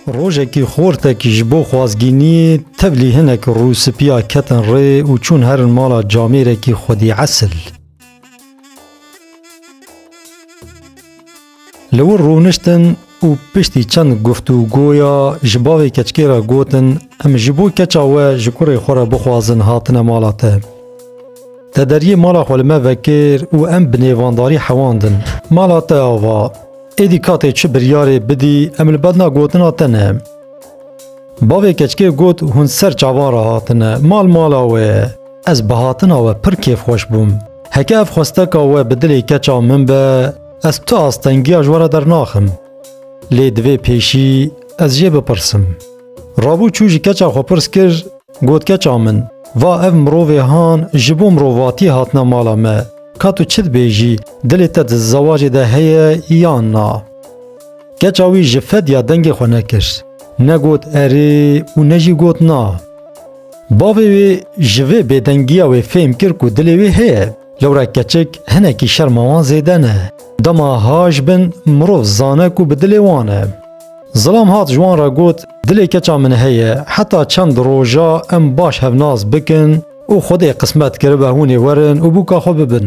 Rojekî xortekî ji bo xwazgîniyê tevlî hinek rûspiya ketin rê û çûn herin mala camêrekî xwedî esil. Li wir rûniştin û piştî çend guftûgoya ji bavê keçikê re gotin, Em ji bo keça we ji kurê xwe re bixwazin hatine mala te. Te deriyê mala xwe li me vekir û em bi nêvandarî hewandin. Mala te ava, êdî katê çi biryarê bidî em li bedna gotina te ne. Bavê keçikê got, Hûn ser çavan re hatine, mal mala we ye. Ez bi hatina we pir kêfxweş bûm. Heke ev xwesteka we bi dilê keça min be, Ez tu astengiya ji we re dernaxim. Lê divê pêşî ez jê bipirsim. Rabû çû ji keça xwe pirs kir, got keça min, va ev mirovê han ji bo mirovatî hatine mala me, ka tu çi dibêjî, dilê te di zewacê de heye yan na? Keça wî ji fedya dengê xwe nekir, ne got erê û ne jî got na. Bavê wê ji vê bêdengiya wê fêm kir ku dilê wê heye. Lewra keçik hinekî şerma wan zêde ne. Dema haj bin mirov zane ku bi dilê wan e. Zilam hat ji wan re got, Dilê keça min heye, heta çend roja em baş hevnas bikin û Xwedê qismet kiribe hûn ê werin û bûka xwe bibin.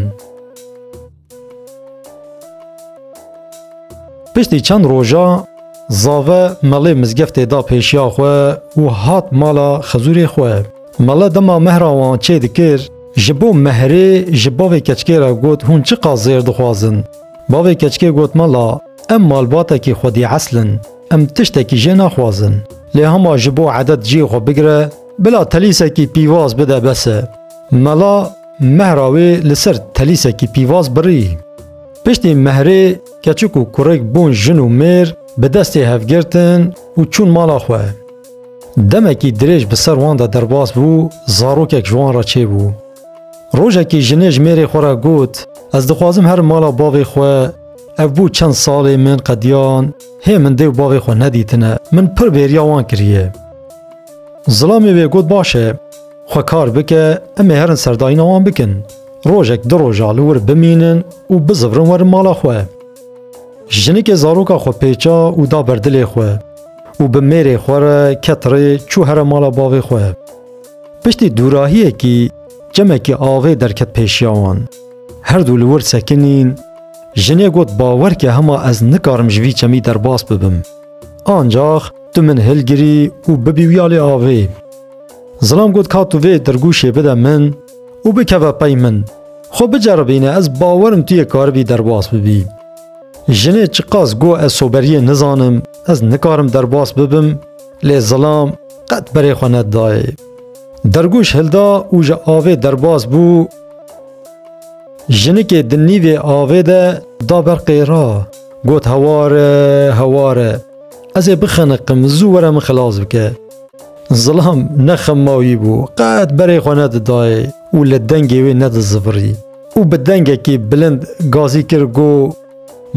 Piştî çend roja zave melê mizgeftê da pêşiya xwe û hat mala xizûrê xwe. Mele dema mehra wan çê dikir, ji bo mehrê ji bavê keçikê re got hûn çi qas zêr dixwazin. Bavê keçikê got mela, em malbatekî xwedî esl in, em tiştekî jê naxwazin. Lê hema ji bo edet cihê xwe bigire, bila telîsekî pîvaz bide bes e. Mela mehra wê li ser telîsekî pîvaz birî. Piştî mehrê keçik û kurêk bûn jin û mêr, bi destê hev girtin û çûn mala xwe. Demekî dirêj bi ser wan de derbas bû, zarokek ji wan re çêbû. Rojekî jinê ji mêrê xwe re got, Ez dixwazim herim mala bavê xwe, ev bû çend salê min qediyan hê min dêw bavê xwe nedîtine, min pir bêriya wan kiriye. Zilamê wê got baş e, xwe kar bike, em ê herin serdayîna wan bikin. Rojek du roja li wir bimînin û bizivrin werin mala xwe. Jinikê zaroka xwe pêça û da ber dilê xwe. û bi mêrê xwe re ket rê çû here mala bavê xwe. Piştî dûrahiyekî çemekî avê derket pêşiya wan. Her dû li wir sekinîn, jinê got bawer ke hema ez nikarim ji vî çemî derbas bibim. Ancax tu min hilgirî û bibî wîya lê avê. Zilam got ka tu vê dirgûşê bide min û bikeve pey min, xwe biceribîne ez bawerim tu yê karibî derbas bibî. Jinê çiqas got ez soberiyê nizanim, Ez nikarim derbas bibim lê zilam qet berê xwe nedidayê. Dergûş hilda û ji avê derbas bû. Jinikê di nîvê avê de da ber qêra. Got heware heware. Ez ê bixeniqim zû were min xilas bike. Zilam ne xemawî bû qet berê xwe nedidayê û li dengê wê nedizibirî û bi dengekî bilind gazî kir got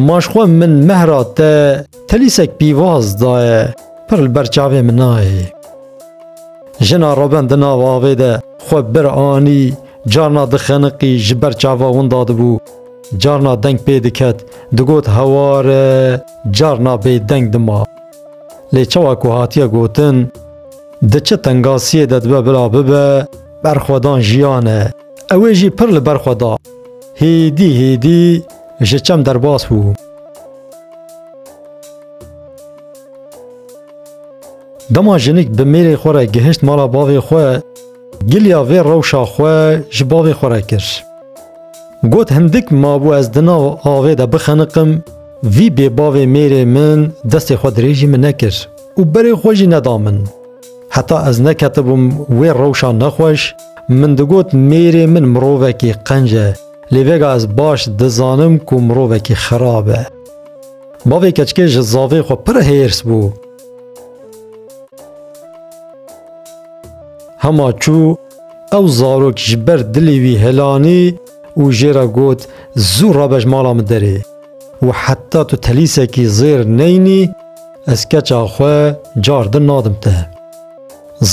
Ma ji xwe min mehra te telîsek pîvaz daye, pir li ber çavê min nayê. Jina Roben di nav avê de xwe bir anî, carna dixeniqî ji ber çava winda dibû, carna deng pê diket, digot hewar e, carna bêdeng dima. Lê çawa ku hatiye gotin, di çi tengasiyê de dibe bila bibe, berxwedan jiyan e. Ew ê jî pir li ber xwe da. Hêdî hêdî Ji çem derbas bû. Dema jinik bi mêrê xwe re gihişt mala bavê xwe, giliya vê rewşa xwe ji bavê xwe re kir. Got hindik mabû ez di nav avê de bixeniqim, vî bêbavê mêrê min destê xwe dirêjî min nekir û berê xwe jî neda min. Heta ez neketibûm wê rewşa nexweş, min digot mêrê min mirovekî qenc e, Lê vêga ez baş dizanim ku mirovekî xirab e. Bavê keçikê ji zavê xwe pir hêrs bû. Hema çû ew zarok ji ber dilê wî helanî û jê re got zû rabej mala min derê û heta tu telîsekî zêr neyinî ez keça xwe car din nadim te.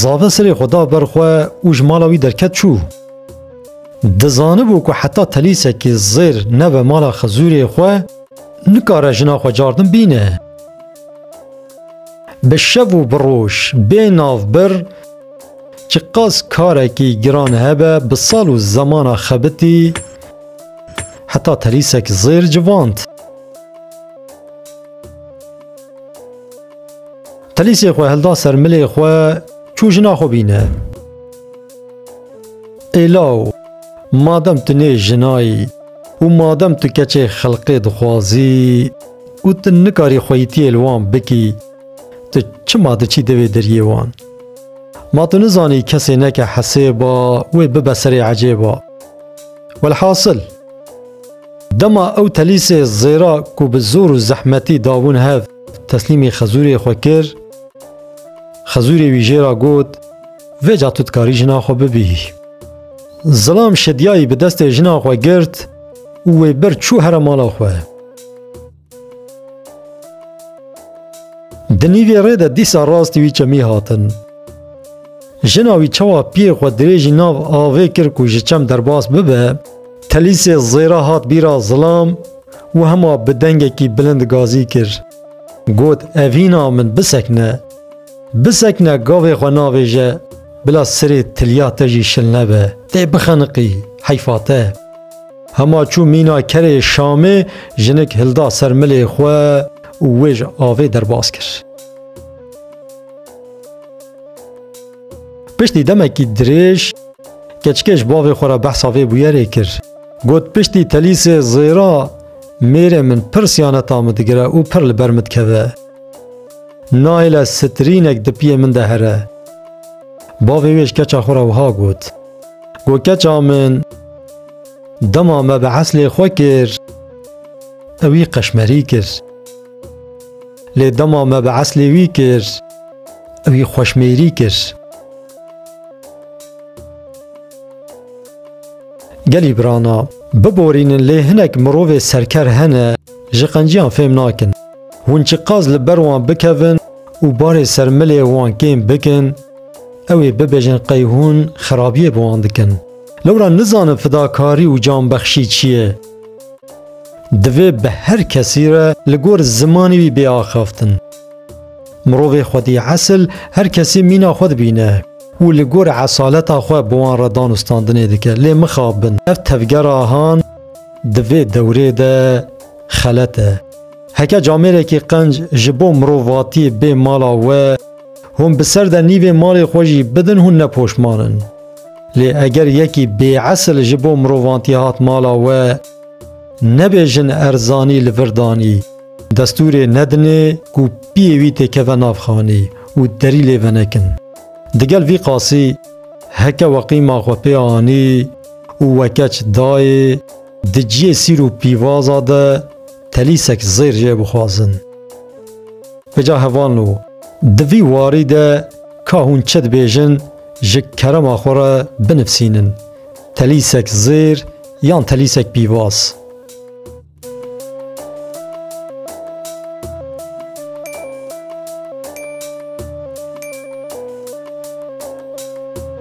Zave sirê xwe da ber xwe û ji mala wî derket çû. Dizanibû ku heta telîsekî zêr nebe mala Xizûrê xwe, nikare jina xwe cardin bîne. Bi şev û bi roj bê navbir Çi qas karekî giran hebe bi sal û zemana xebitî heta telîsek zêr civand. Telîsê xwe hilda ser milê xwe çû jina xwe bîne. Êlaw, madem tu nê jinayî û madem tu keçê xelqê dixwazî û tu nikarî xweyîtiyê li wan bikî, tu çima diçî devê deriyê wan? Ma tu nizanî kesê neke hesê ba wê bibe serê ecê ba. Welhasil, dema ew telîsê zêra ku bi zor û zehmetî dabûn hev teslîmî xezûrê xwe kir, xezûrê wî jê re got, Vê ca tu dikarî jina xwe bibîhî. Zilam Şidyayî bi destê jina xwe girt û wê bir çû here mala xwe. Di nîvê rê de dîsa rastî wî çemî hatin. Jina wî çawa piyê xwe dirêjî nav avê kir ku ji çem derbas bibe, telîsê zêra hat bîra Zilam û hema bi dengekî bilind gazî kir. Got, Evîna min bisekne. Bisekine gavê xwe navêje, bila sirê tilya te jî şil nebe, tê bixeniqî, heyfa te. Hema çû mîna kerê Şamê jinik hilda ser milê xwe û wê ji avê derbas kir. Piştî demekî dirêj keçikê ji bavê xwe re behsa vê bûyerê kir. Got piştî telîsê zêra mêrê min pir siyaneta min digire û pir li ber min dikeve. Naîle sitirînek di piyê min de here. Bavê wê ji keça xwe re wiha got, Go keça min, dema me bi eslê xwe kir, ew wî qeşmerî kir. Lê dema me bi eslê wî kir, ew wî xweşmêrî kir. Gelî birana, biborînin lê hinek mirovê serker hene ji qenciyan fêm nakin. Hûn çiqas li ber wan bikevin û barê ser milê wan kêm bikin, ew ê bibêjin qey hûn xerabiyê bi wan dikin. Lewra nizanin fidakarî û canbexşî çi ye. Divê bi her kesî re li gor zimanê wî bê axaftin. Mirovê xwedî esil her kesî mîna xwe dibîne û li gor esaleta xwe bi wan re danûstandinê dike. Lê mixabin ev tevgera han di vê dewrê de, xelet e. Heke camêrekî qenc ji bo mirovatiyê bê mala we, hûn bi ser de nîvê malê xwe jî bidin hûn ne poşman in. Lê eger yekî bêesil ji bo mirovantî hat mala we, nebê jin erzanî li vir danî, destûrê nedinê ku piyê wî tê keve nav xanî û derî lê venekin. Digel vî qasî heke we qîma xwe pê anî û we keç dayê, Di ciyê sîr û pîvaza de telîsek zêr jê bixwazin. Beca hevan lo, di vî warî de ka hûn çi dibêjin ji kerema xwe re binivsînin, telîsek zêr yan telîsek pîvaz.